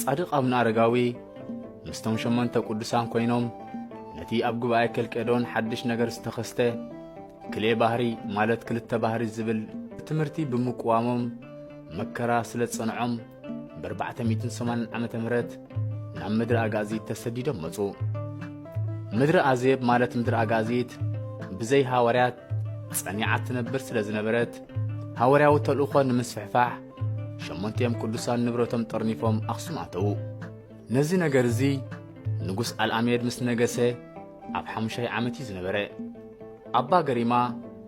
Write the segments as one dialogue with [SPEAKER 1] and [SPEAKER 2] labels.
[SPEAKER 1] ጻድቕ ኣቡነ ኣረጋዊ ምስቶም ሸሞንተ ቅዱሳን ኮይኖም ነቲ ኣብ ጉባኤ ኬልቄዶን ሓድሽ ነገር ዝተኸስተ ክልኤ ባህሪ ማለት ክልተ ባህሪ ዝብል ትምህርቲ ብምቅዋሞም መከራ ስለ ዝጸንዖም ብ480 ዓ ም ናብ ምድሪ ኣጋእዚት ተሰዲዶም መጹ ምድሪ ኣዜብ ማለት ምድሪ ኣጋእዚት ብዘይ ሃዋርያት ጸኒዓ ትነብር ስለ ዝነበረት ሃዋርያዊ ተልእኾ ንምስፍሕፋሕ ሸሞንቲኦም ቅዱሳን ንብረቶም ጠርኒፎም ኣኽሱም ኣተዉ ነዚ ነገር እዚ ንጉስ ኣልኣሜድ ምስ ነገሰ ኣብ ሓሙሻይ ዓመት እዩ ዝነበረ ኣባ ገሪማ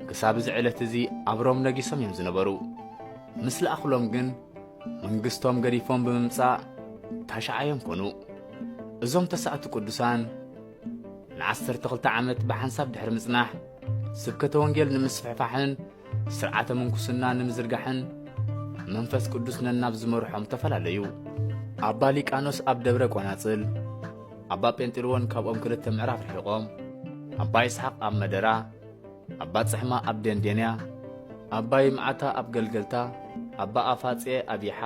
[SPEAKER 1] ክሳብ እዚ ዕለት እዚ ኣብ ሮም ነጊሶም እዮም ዝነበሩ ምስ ለኣኽሎም ግን መንግስቶም ገዲፎም ብምምጻእ ታሽዓዮም ኮኑ እዞም ተሳእቲ ቅዱሳን ንዓሰርተ ክልተ ዓመት ብሓንሳብ ድሕሪ ምጽናሕ ስብከተ ወንጌል ንምስፍሕፋሕን ስርዓተ ምንኩስና ንምዝርጋሕን መንፈስ ቅዱስ ነናብ ዝመርሖም ተፈላለዩ። ኣባ ሊቃኖስ ኣብ ደብረ ቆናጽል፣ ኣባ ጴንጢልዎን ካብኦም ክልተ ምዕራፍ ርሒቖም፣ ኣባ ይስሓቕ ኣብ መደራ፣ ኣባ ጽሕማ ኣብ ደንዴንያ፣ ኣባ ይምዓታ ኣብ ገልገልታ፣ ኣባ ኣፋጼ ኣብ ይሓ፣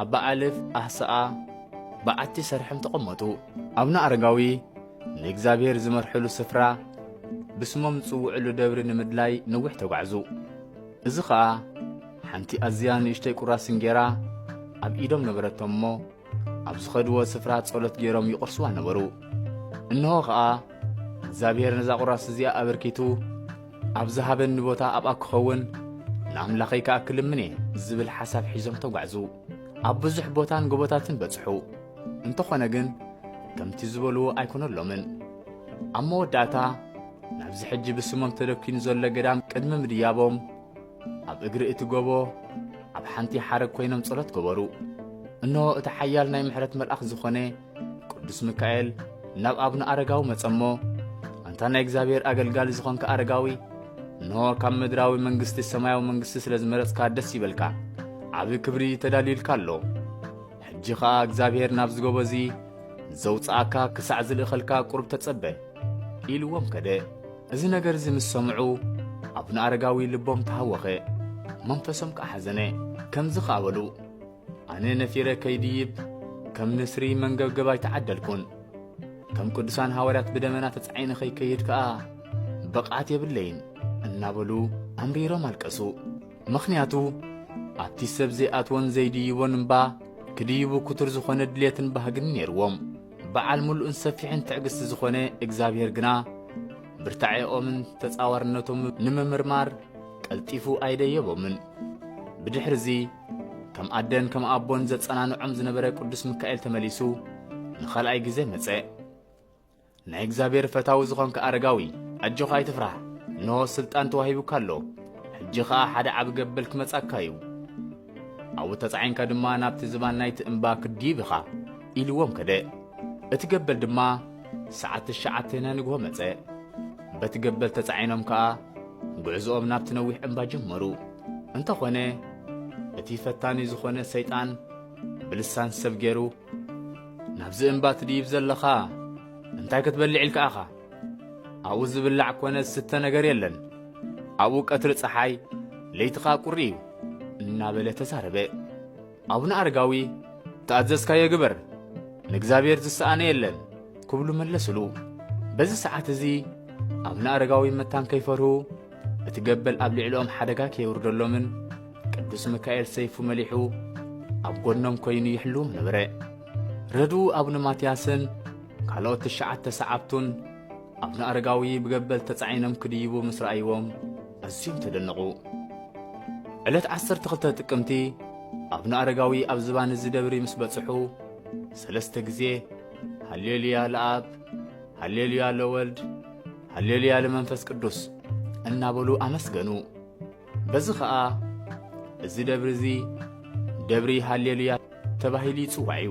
[SPEAKER 1] ኣባ ኣልፍ ኣህስኣ፣ በዓቲ ሰርሐም ተቐመጡ። ኣቡነ ኣረጋዊ ንእግዚኣብሔር ዝመርሕሉ ስፍራ ብስሞም ዝጽውዕሉ ደብሪ ንምድላይ ነዊሕ ተጓዕዙ። እዚ ኸኣ ሓንቲ ኣዝያ ንእሽተይ ቁራስ እንጌራ ኣብ ኢዶም ነበረቶም እሞ ኣብ ዝኸድዎ ስፍራ ጸሎት ገይሮም ይቝርስዋ ነበሩ። እንሆ ኸኣ እግዚኣብሔር ነዛ ቁራስ እዚኣ ኣበርኪቱ ኣብ ዝሃበኒ ቦታ ኣብኣ ክኸውን ንኣምላኸይ ከኣ ክልምን እየ ዝብል ሓሳብ ሒዞም ተጓዕዙ። ኣብ ብዙሕ ቦታን ጎቦታትን በጽሑ። እንተኾነ ግን ከምቲ ዝበልዎ ኣይኮነሎምን። ኣብ መወዳእታ ናብዚ ሕጂ ብስሞም ተደኪኑ ዘሎ ገዳም ቅድሚ ምድያቦም ኣብ እግሪ እቲ ጎቦ ኣብ ሓንቲ ሓረግ ኮይኖም ጸሎት ገበሩ። እንሆ እቲ ሓያል ናይ ምሕረት መልኣኽ ዝኾነ ቅዱስ ሚካኤል ናብ ኣብነ ኣረጋዊ መጸሞ ኣንታ ናይ እግዚኣብሔር ኣገልጋሊ ዝኾንካ ኣረጋዊ እንሆ ካብ ምድራዊ መንግስቲ ሰማያዊ መንግስቲ ስለ ዝመረጽካ ደስ ይበልካ ዓቢ ክብሪ ተዳልዩልካ ኣሎ ሕጂ ኸኣ እግዚኣብሔር ናብዚ ጎቦ እዚ ዘውጽኣካ ክሳዕ ዝልእኸልካ ቁርብ ተጸበ ኢልዎም ከደ እዚ ነገር እዚ ምስ ሰምዑ ኣቡነ ኣረጋዊ ልቦም ተሃወኸ መንፈሶም ከዓ ሓዘነ ከምዚ ኸኣ በሉ ኣነ ነፊረ ከይድይብ ከም ንስሪ መንገብገብ ኣይተዓደልኩን ከም ቅዱሳን ሃዋርያት ብደመና ተጻዒነ ኸይከይድ ከኣ ብቕዓት የብለይን እናበሉ ኣምሪሮም ኣልቀሱ ምኽንያቱ ኣቲ ሰብ ዘይኣትዎን ዘይድይቦን እምባ ክድይቡ ክቱር ዝኾነ ድሌትን ባህግን ኔርዎም። በዓል ምሉእን ሰፊሕን ትዕግስቲ ዝኾነ እግዚኣብሔር ግና ብርታዔኦምን ተጻዋርነቶምን ንምምርማር ቀልጢፉ ኣይደየቦምን። ብድሕሪ እዚ ከም ኣደን ከም ኣቦን ዘጸናንዖም ዝነበረ ቅዱስ ምካኤል ተመሊሱ ንኻልኣይ ግዜ መጸ። ናይ እግዚኣብሔር ፈታዊ ዝኾንካ ኣረጋዊ ኣጆኻ ኣይትፍራህ እንሆ ስልጣን ተዋሂቡካ ኣሎ ሕጂ ኸኣ ሓደ ዓቢ ገበል ክመጻካ እዩ ኣብኡ ተጻዒንካ ድማ ናብቲ ዝባን ናይቲ እምባ ክድይብ ኢኻ ኢልዎም ከደ እቲ ገበል ድማ ሰዓት ትሽዓተ ናይ ንግሆ መጸ በቲ ገበል ተጻዒኖም ከኣ ጉዕዝኦም ናብቲ ነዊሕ እምባ ጀመሩ እንተኾነ እቲ ፈታኒ ዝኾነ ሰይጣን ብልሳን ሰብ ገይሩ ናብዚ እምባ ትድይብ ዘለኻ እንታይ ክትበልዕ ኢልካ ኢኻ? ኣብኡ ዝብላዕ ኮነ ዝስተ ነገር የለን፣ ኣብኡ ቀትሪ ፀሓይ ለይቲ ኸኣ ቁሪ እዩ እናበለ ተዛረበ። ኣቡነ ኣረጋዊ ተኣዘዝካዮ ግበር፣ ንእግዚኣብሔር ዝሰኣነ የለን ክብሉ መለስሉ። በዚ ሰዓት እዚ ኣቡነ ኣረጋዊ መታን ከይፈርሁ እቲ ገበል ኣብ ልዕሊኦም ሓደጋ ከየውርደሎምን ቅዱስ ሚካኤል ሰይፉ መሊሑ ኣብ ጎኖም ኮይኑ ይሕልዎም ነበረ። ረድኡ ኣቡነ ማትያስን ካልኦት ትሽዓተ ሰዓብቱን ኣቡነ ኣረጋዊ ብገበል ተጻዒኖም ክድይቡ ምስ ረኣይዎም ኣዝዮም ተደነቑ። ዕለት 12 ጥቅምቲ ኣቡነ ኣረጋዊ ኣብ ዝባን እዚ ደብሪ ምስ በጽሑ ሰለስተ ግዜ ሃሌሉያ ለኣብ ሃሌሉያ ለወልድ ሃሌሉያ ለመንፈስ ቅዱስ እናበሉ ኣመስገኑ። በዚ ኸኣ እዚ ደብሪ እዚ ደብሪ ሃሌሉያ ተባሂሉ ይጽዋዕ እዩ።